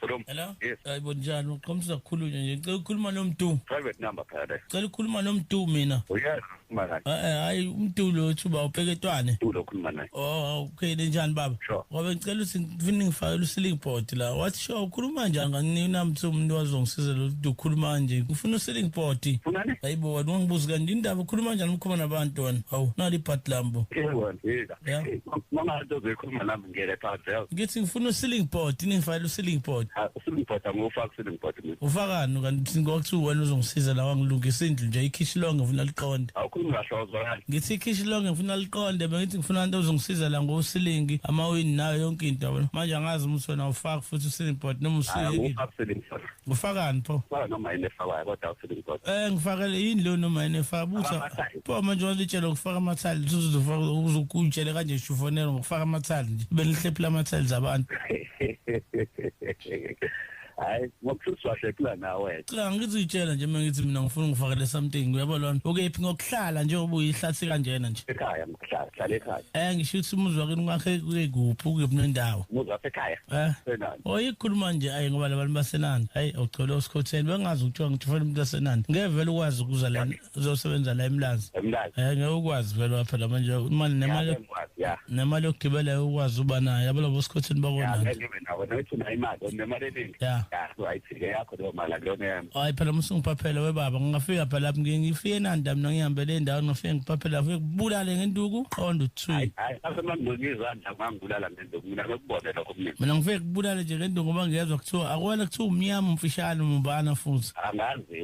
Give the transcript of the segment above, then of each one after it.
Hello. Hello. Yes. Hayibo njani uqhomisa kukhulunywa nje. Ngicela ukukhuluma nomdu. Private number phakathi. Ngicela ukukhuluma nomdu mina. Uyazi ukhuluma naye. Eh, eh hayi umdu lo thuba upheketwane. Umdu lo ukhuluma naye. Oh okay njani baba? Sure. Ngoba ngicela ukuthi ngifune ngifakele usiling board la. What sure ukhuluma njani nganinamthi umuntu wazongisiza lo ukhuluma nje. Ngifuna usiling board. Funani? Hayibo wena ungibuza kanti indaba ukhuluma njani umkhoma nabantu wena? Hawu nali part lambo. Eh wena. Yeah. Mama nto zoyikhuluma nami. ngiyele Pavel ngithi ngifuna uceiling board ningifakela uceiling board ah, uceiling board angufaka uceiling board mina ufakani kanti ngokuthiwa wena uzongisiza la wangilungisa indlu nje ikhishi lonke ngifuna liqonde awukhulumi kahle wazwakala ngithi ikhishi lonke ngifuna liqonde bengithi ngifuna abantu ozongisiza la ngosilingi amawini nayo yonke into yabona manje angazi ukuthi wena ufaka futhi uceiling board noma usilingi Ngifakani pho? Ba noma yini efakwayo kodwa awuthini ngikho. Eh ngifakele yini lo noma yini efaka butha. Pho manje walitshela ukufaka amathali uzofaka uzokutshela kanje shufonela ngokufaka amathali nje. Benihlephula amathali zabantu. hayi ngokuhlushwa hlephula nawe cha ngizitshela nje mina ngithi mina ngifuna ngifakele something uyabo lona ukephi ngokuhlala nje ubuyihlathi kanjena nje ekhaya hlale ekhaya eh ngisho ukuthi umuzi wakini kwakhe kuyekuphi ukuphi nendawo umuzi wasekhaya eh senani oyikhuluma oh, nje ayi ngoba labantu basenani hayi awugcole usikhotheni bengazi ukuthiwa ngithi ufuna umuntu wasenani ngeke vele ukwazi ukuza la uzosebenza la emlazi emlazi eh ngeke ukwazi vele lapha la manje imali nemali nemali yokugibela ukwazi uba nayo yabo labo sikhotheni bakona ngibe nawo nokuthi nayo imali nemali eningi yeah right ike yakho leyo mali akuyona yami hayi phela musungiphaphele webaba ngingafika phela lapho ngike ngifike enanda mina ngihambele indawo ngifike ngiphaphele lapho kubulale ngenduku qonda uthi hayi hayi asemangcweki izandla ngangibulala ngenduku mina ngikubone lokho mina mina ngifike kubulale nje ngenduku ngoba ngiyezwa kuthiwa akwena kuthiwa umnyama umfishane umbana futhi angazi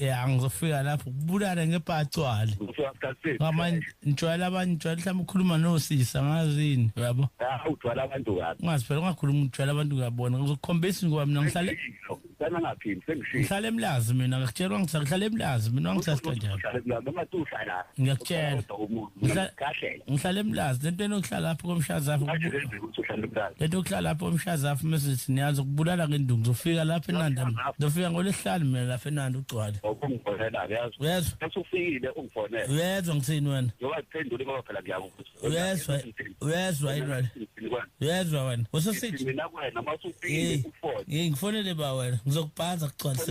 ya ngizofika lapho kubulala ngepacwale ngamanye ngijwayela abantu ngijwayela mhlawumbe ukhuluma nosisa ngazini uyabo ujwayela abantu kabi ungazi phela ungakhuluma ujwayela abantu ngiyabona ngizokukhombisa ngoba mina ngihlale sana ngaphini sengishilo ngihlale emlazi mina ngikutshelwa ngihlale emlazi mina wangisasithandana ngiyakutshela ngihlala emlazi lento enokuhlala lapho komshazapho lento okuhlala lapho komshazapho mesithi niyazi ukubulala ngendungu zofika lapho enanda zofika ngolesihlanu mina lapho enanda ugcwale uyezwa ngithini wena uyezwa uyezwa yini wena uyezwa wena usesithi ngifonele ba wena ngizokubhanza kugcwalise